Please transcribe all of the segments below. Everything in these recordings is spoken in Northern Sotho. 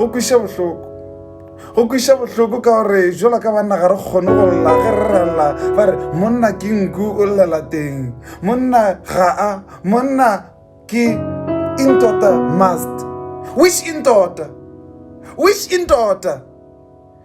go kwiša bohloko go kwiša bohloko ka gore jola ka banna ga re kgone go lla ge re rella ba re monna ke nku o llela teng monna ga a monna ke intota must which intota which intota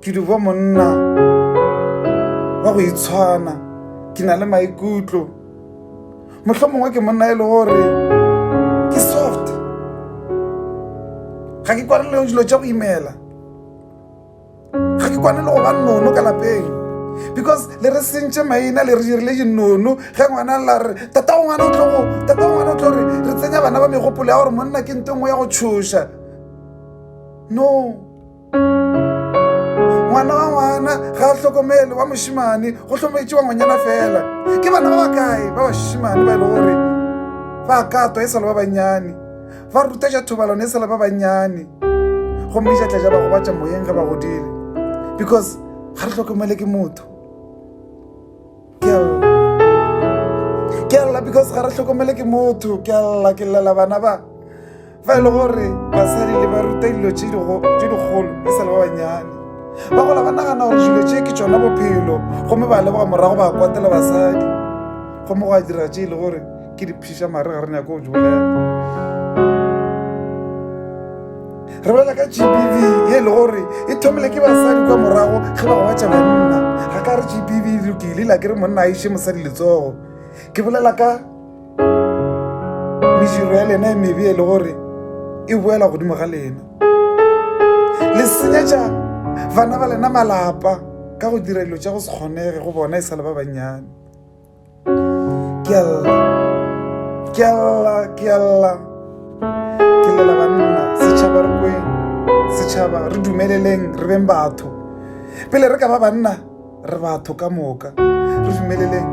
ke dubo monna wa go itshwana ke na le maikutlo mohlho mongwe ke monna e le gore ke soft ga ke kwane le dilo tša go imela ga ke kwane le go ba nono ka lapeng because le re sentše maina le re dirile dinono ge ngwana la re tata o ngwana o tlogo tata o ngwana o tlo re re tsenya bana ba megopolo ya gore monna ke nto nngwe ya go tšhoša no ngwana wa ngwana ga a hlokomele wa mošimane go hlometše wa ngwanyana fela ke bana ba bakae ba bašimane ba e le gore ba katwa e sale ba bannyane ba ruta ja thobalano e sale ba bannyane gomme jatla ja ba gobatša moyeng ge ba godile because ga re hlokomele ke motho ke a lla because ga re tlhokomele ke motho ke a lla ke llela bana ba fa e le gore basadi le ba ruta dilo tse dikgolo e sa le ba bannyane ba gola ba nagana gore dilo tse ke tsona bophelo gomme ba leboga morago ba kwatela basadi gomme go a dira tse e le gore ke di phiša mare ga re nyako go di bolela re bolela ka gbv e le gore e thomile ke basadi kwa morago ge ba gobatša banna ga ka re gbv e lokile la ke re monna a iše mosadi letsogo ke bolela ka mediro ya lena e mebe e le gore e boela godimo ga lena le senyetša bana ba lena malapa ka go dira dilo tša go se kgonege go bona e sa le ba bannyane ke a lla ke a lla ke a lla ke lela banna setšhaba re kweng setšhaba re dumeleleng re beng batho pele re ka ba banna re batho ka moka re dumeleleng